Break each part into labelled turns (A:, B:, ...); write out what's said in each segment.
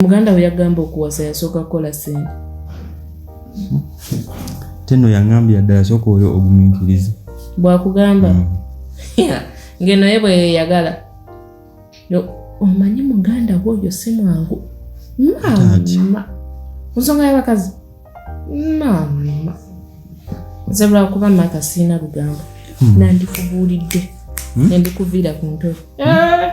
A: muganda we yagamba okuwasa yasooka kukola sente
B: teno yangambye yadda yasooka oyo ogumiikiriza bwakugamba
A: mm. ngeno ye bwe yeyagala omanyi muganda we oyo si mwangu mama nsonga y'abakazi mama nze lwakuba maka siina lugambo mm. nandikubuulidde mm. nendikuviira ku ntolo eh.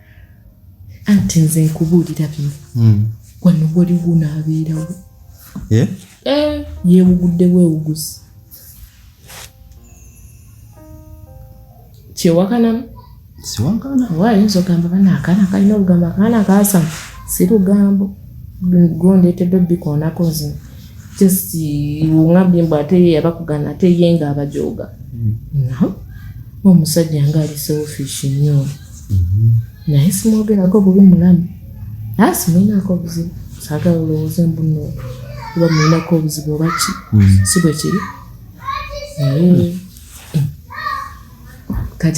A: anti nze nkubuulira bino hmm. wano waliwo naabeerawo eh? eh, yeewuguddewo ewuguzi kyewakanamu siwakana
B: oba ayinza ogamba
A: bana akaana kalina olugambo akaana kaasama si lugambo gondeetedde obikoonako nze just wungambye mbu ate ye yabakugana ate ye nga abajooga hmm. no omusajja nga ali selfish nnyo naye simwogerako bubi mulamu naye simulinako obuzibu saagala olowooze mbuno oba mulinako obuzibu oba ki hmm. si bwe kiri naye kati